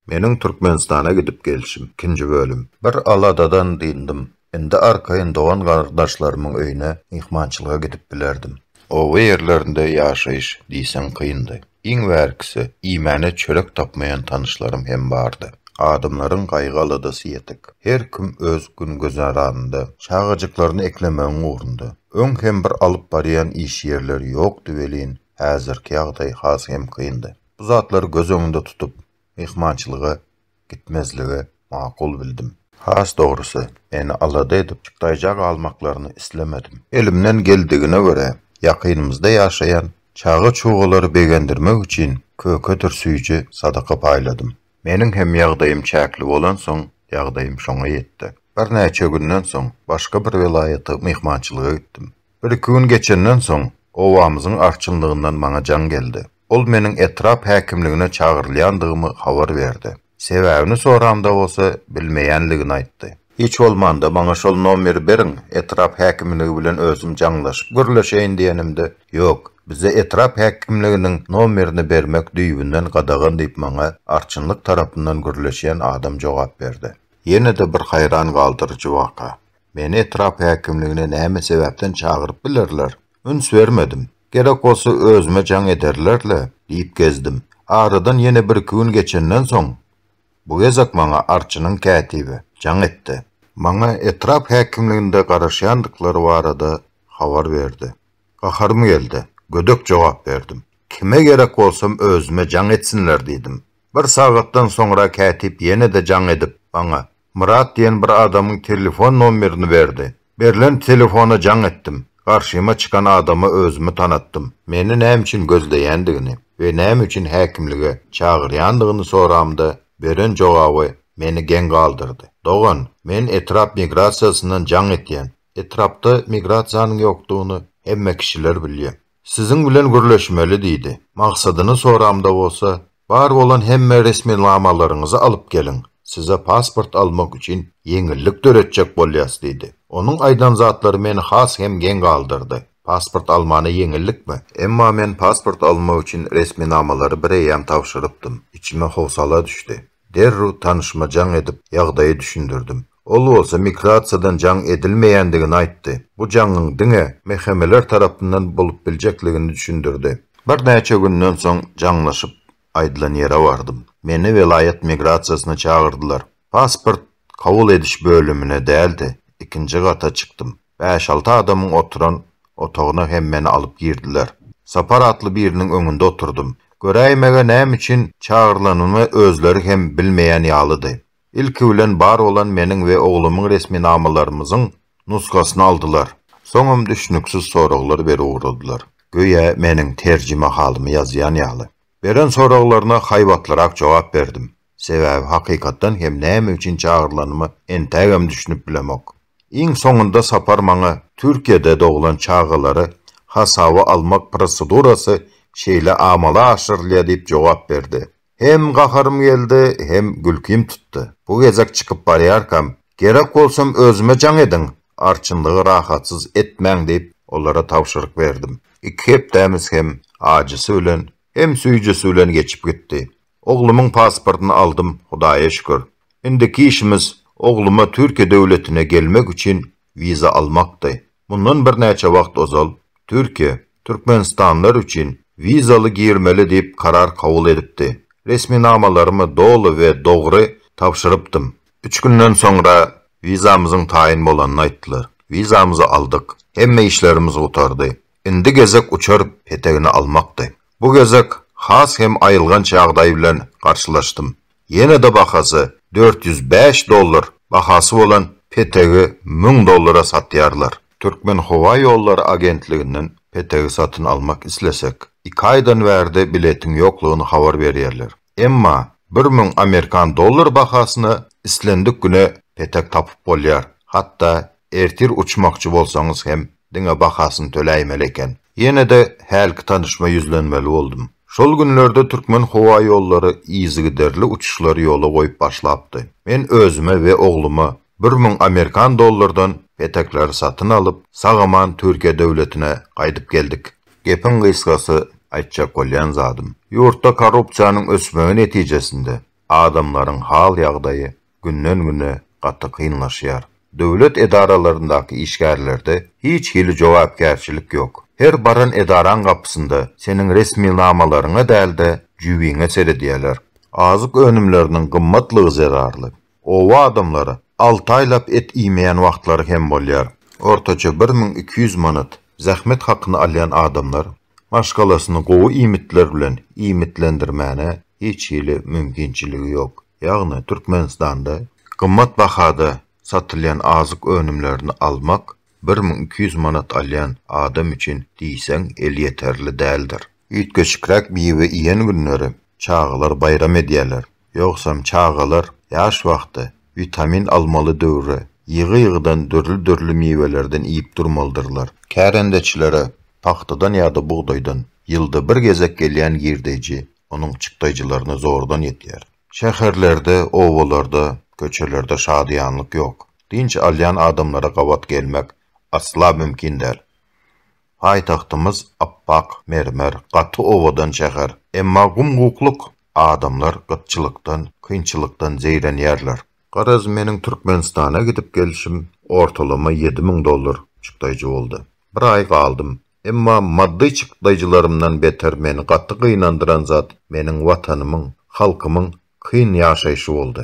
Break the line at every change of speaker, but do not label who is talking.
Meniň Türkmenistana gidip gelşim, ikinji bölüm. Bir aladadan dyndym. Indi arkaýyn dogan-garyndaşlarymyň öýüne myhmançylyga gidip bilerdim. Oba ýerlerinde ýaşaýyş diýseň kyndy. Iň bärkisi, iýmäne çörek tapmaýan tanyşlarym hem bardy. Adamlaryň gaýgy-aladasy ýetik. Her kim öz gün-güzeranynda, çagajyklaryny eklemegiň ugrunda. Öň hem bir alyp barýan iş ýerleri ýokdy welin, häzirki ýagdaý has hem kyndy. Bu zatlary göz öňünde tutup, myhmançylyga gitmezligi makul bildim. Has dogrusy, eni alada edip, çykdaýja galmaklaryny islemedim. Elimden geldigine görä, ýakynymyzda ýaşaýan çaga-çugalary begendirmek üçin kökedir süýji sadaka paýladym. Meniň hem ýagdaýym çäkli bolansoň, ýagdaýym şoňa ýetdi. Birnäçe günden soň, başga bir welaýata myhmançylyga gitdim. Bir-iki gün geçenden soň, obamyzyň arçynlygyndan maňa jaň geldi. Ol meniň etrap häkimligine çagyrylýandygymy habar berdi. Sebäbini soramda bolsa bilmeýänligini aýtdy. Hiç bolmanda maňa şol nomeri beriň, etrap häkimligi bilen özüm jaňlaşyp gürleşeýin diýenimde, Ýok, bizde etrap häkimliginiň nomerini bermek düýbünden gadagan diýip maňa arçynlyk tarapyndan gürleşýän adam jogap berdi. Ýene-de bir haýran galdyryjy waka. Meni etrap häkimligine näme sebäpden çagyryp bilerler? Üns bermedim. Gerek bolsa özüme jaň ederler-le diýip gezdim. Aradan ýene birki gün geçenden soň, bu gezek maňa arçynyň kätibi jaň etdi. Maňa etrap häkimliginde garaşýandyklary barada habar berdi. Gaharym geldi. Gödek jogap berdim. Kime gerek bolsam özüme jaň etsinler diýdim. Bir sagatdan soňra kätip ýene-de jaň edip, maňa, Myrat diýen bir adamyň telefon nomerini berdi. Berlen telefona jaň etdim. Garşyma çykan adama özümi tanatdym. Meni näme üçin gözleýändigini we näme üçin häkimlige çagyrýandygyny soramda, beren jogaby meni geň galdyrdy. Dogan, men etrap migrasiýasyndan jaň etýän. Etrapda migrasiýanyň ýokdugyny hemme kişiler bilýär. Siziň bilen gürleşmeli diýdi. Maksadyny soramda bolsa, Bar bolan hemme resminamalaryňyzy alyp geliň, size pasport almak üçin ýeňillik döretjek bolýas diýdi. Onuň aýdan zatlary meni has hem geň galdyrdy. Pasport almana ýeňillikmi? Emma men pasport almak üçin resminamalary bireýýäm tabşyrypdym. Içime howsala düşdi. Derrew tanyşyma jaň edip, ýagdaýy düşündirdim. Ol bolsa migrasiýadan jaň edilmeýändigini aýtdy, bu jaňyň diňe MHM-ler tarapyndan bolup biljekligini düşündirdi. Birnäçe günden soň jaňlaşyp, aýdylan ýere bardym. Meni welaýat migrasiýasyna çagyrdylar. Pasport kabul ediş bölümine däl-de, ikinji gata çykdym. Bäş-alty adamyň oturan otagyna hem meni alyp girdiler. Sapar atly biriniň öňünde oturdym. Göräýmäge näme üçin çagyrylanymy özleri hem bilmeýän ýalydy. Ilki bilen bar bolan meniň we oglumyň resminamalarymyzyň nusgasyny aldylar. Soňam düşnüksiz soraglar berip ugradylar. Göýä meniň terjimehalymy ýazýan ýaly. Beren soraglaryna haýbatlyrak jogap berdim. Sebäbi hakykatdan hem näme üçin çagyrylanyma entägem düşünip bilemok. Iň soňunda sapar maňa Türkiýede doglan çagalary hasaba almak prosedurasy şeýle amala aşyrylýar diýip jogap berdi. Hem gaharym geldi, hem gülkim tutdy. Bu gezek çykyp barýarkam, Gerek bolsam özüme jaň ediň, arçynlygy rahatsyz etmäň diýip, olara tabşyryk berdim. Iki hepdämiz hem ajysy bilen, hem süýjüsi bilen geçip gitdi. Oglumyň pasportyny aldym, Hudaýa şükür. Indiki işimiz ogluma Türkiýe döwletine gelmek üçin wiza almakdy. Mundan birnäçe wagt ozal Türkiýe türkmenistanlylar üçin wizaly girmeli diýip karar kabul edipdi. Resminamalarymy doly we dogry tabşyrypdym. Üç günden soňra wizamyzyň taýyn bolanyny aýtdylar. Wizamyzy aldyk. Hemme işlerimiz gutardy. Indi gezek uçar petegini almakdy. Bu gezek has hem aýylganç ýagdaý bilen garşylaşdym. ýene-de bahasy dört ýüz bäş dollar bahasy bolan petegi müň dollara satýarlar. Türkmenhowaýollary agentliginden petegi satyn almak islesek, iki aýdan bärde biletiň ýoklugyny habar berýärler. Emma bir müň amerikan dollary bahasyna islendik güne petek tapyp bolýar, hatda Ertir uçmakçy bolsaňyz hem diňe bahasyny töläýmeli eken. Ýene-de hälki tanyşma ýüzlenmeli boldum. Şol günlerde Türkmen howa ýollary yzygiderli uçuşlary ýola goýup başlapdy. Men özüme we ogluma bir müň amerikan dollardan petekleri satyn alyp, sag-aman Türkiýe döwletine gaýdyp geldik. Gepiň gysgasy, aýtjak bolýan zadym, ýurtda korrupsiýanyň ösmegi netijesinde, adamlaryň hal-ýagdaýy günden-güne gaty kynlaşýar. Döwlet edaralaryndaky işgärlerde hiç hili jogapkärçilik ýok. Her baran edaraň gapysynda seniň resminamalaryňa däl-de, jübiňe seredýärler. Azyk önümleriniň gymmatlygy zerarly, oba adamlary alty aýlap et iýmeýän wagtlary hem bolýar. Ortaça bir müň iki ýüz manat zähmet hakyny alýan adamlar maşgalasyny gowy iýmitler bilen iýmitlendirmäne hiç hili mümkinçiligi ýok. Ýagny Türkmenistanda gymmat bahada satylýan azyk önümlerini almak bir müň iki ýüz manat alýan adam üçin diýseň elýeterli däldir. Üýtgeşikräk miwe iýen günleri çagalar baýram edýärler. Ýogsam çagalar ýaş wagty, witamin almaly döwri ýygy-ýygydan dürli-dürli miwelerden iýip durmalydyrlar. Kärendeçilere pagtadan ýa-da bugdaýdan ýylda bir gezek gelýän girdeýji onuň çykdaýjylaryna zordan ýetýär. Şäherlerde, obalarda, köçelerde şadyýanlyk ýok. Dynç alýan adamlara gabat gelmek asla mümkin däl. Paýtagtymyz appak mermer, gaty owadan şäher. Emma gum-gukluk, adamlar gytçylykdan, kynçylykdan zeýrenýärler. Garaz, meniň Türkmenistana gidip gelşim ortalama ýedi müň dollar çykdaýjy boldy. Bir aý galdym. Emma maddy çykdaýjylarymdan beter meni gaty gynandyran zat meniň Watanymyň, halkymyň kyn ýaşaýşy boldy.